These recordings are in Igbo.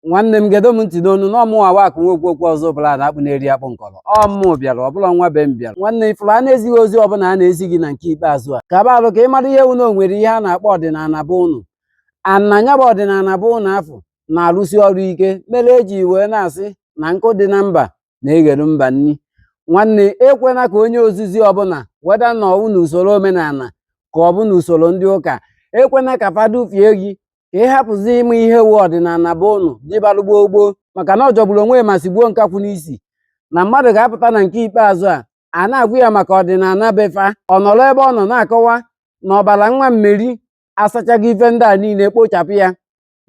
nwanne m gedo m ntị n'ọnụ na ọ mụwa wụ akụ nwa okwu okwu ọzọ bụla na akpụ na-eri akpụ nkọrọ ọ mụ bịara ọ bụrọ nwa be m bịara nwanne ị fụrụ a na-ezi gị ozi ọbụla a na-ezi gị na nke ikpeazụ a kaba arụ ka ị mara ihe wu na o nwere ihe a na-akpọ ọdịnala be unu a na nya bụ ọdịnala be unu afụ na-arụsi ọrụ ike mere eji wee na-asị na nkụ dị na mba na-eghere mba nri nwanne ekwena ka onye ozizi ọbụla whether na ọ wụ na usoro omenala ka ọ bụ na usoro ndị ụka ekwena ka fa dufie gị ka ị hapụzi ịma ihe wu ọdịnala be unu dịbalụ gboo gboo maka na ọ jọgburu onwe ya ma sigbuo nkakwụ n'isi na mmadụ ga-apụta na nke ikpeazụ a a na-agwa ya maka ọdịnala be fa ọ nọrọ ebe ọ nọ na-akọwa na ọbara nwa meri asachago ife ndị a niile kpochapụ ya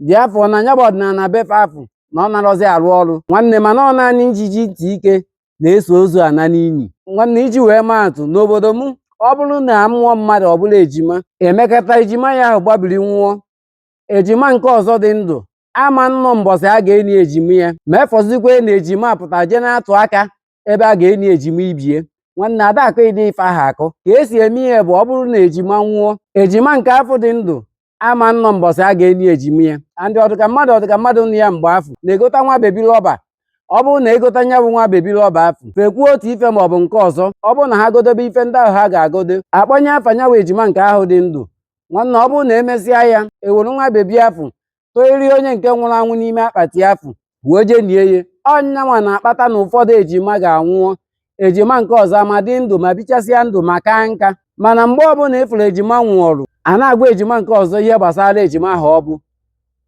therefore na nya bụ ọdịnala be fa afụ na ọ narọzi arụ ọrụ nwanne mana ọ naanị ijiji ntị ike na-eso ozu ana n'inyi nwanne iji wee maa atụ n'obodo m ọ bụrụ na amụọ mmadụ ọ bụla ejima emekata ejima ya ahụ gbabiri nwụọ ejima nke ọzọ dị ndụ ama nnọ mbọsị a ga-eni ejima ya ma efọzikwa na ejima pụta jee na-atụ aka ebe a ga-eni ejima ibe ye nwanne adakụ ịdị ife ahụ akụ ka esi eme ihe bụ ọ bụrụ na ejima nwụọ ejima nke afụ dị ndụ ama nnọ mbọsị a ga-eli ejima ya and ọ dịka mmadụ ọ dịka mmadụ nụ ya mgbe afụ na-egota nwa bebi rọba ọ bụrụ na egota nya bụ nwa bebi rọba afụ fekwuo otu ife ma ọ bụ nke ọzọ ọ bụrụ na ha godobe ife ndị ahụ ha ga-agodo akpọnye afa nya wụ ejima nke ahụ dị ndụ nwanne ọ bụrụ na emesịa ya ewere nwa bebi afụ toiri onye nke nwụrụ anwụ n'ime akpati afụ wee jee nie ya ọ nyanwa na-akpata na ụfọdụ ejima ga-anwụọ ejima nke ọzọ ma dị ndụ ma bichasịa ndụ ma kaa nka mana mgbe ọbụla ị fụrụ ejima nwụọrụ a na-agwa ejima nke ọzọ ihe gbasara ejima ahụ ọ bụ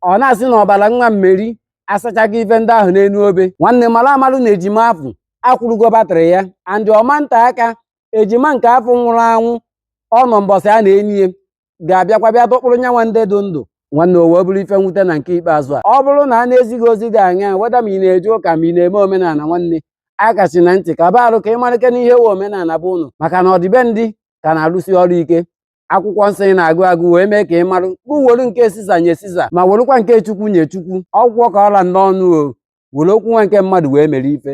ọ na-asị na ọbara nwa meri asachago ife ndị ahụ n'elu obe nwanne mara amarụ na ejima afụ akwụrụgo batrị ya and ọ ma nte aka ejima nke afụ nwụrụ anwụ ọ nọ mbọsị a na-eni ya ga-abịakwa bịa dọkpụrụ nyanwa ndị dị ndụ nwanne o wee bụrụ ife mwute na nke ikpeazụ a ọ bụrụ na a na-ezi gị ozi dị aṅaa whether ma ị na-eje ụka ma ị na-eme omenala nwanne akachina ntị kaba arụ ka ị marịkene ihe wu omenala be unu maka na ọdịbendị ka na-arụsi ọrụ ike akwụkwọ nsọ ị na-agụ agụ wee mee ka ị marụ gụ were nke siza nye siza ma werụkwa nke chukwu nye chukwu ọ gwụkwọ ka ọ ra m n'ọnụ o were okwu nwa nke mmadụ wee mere ife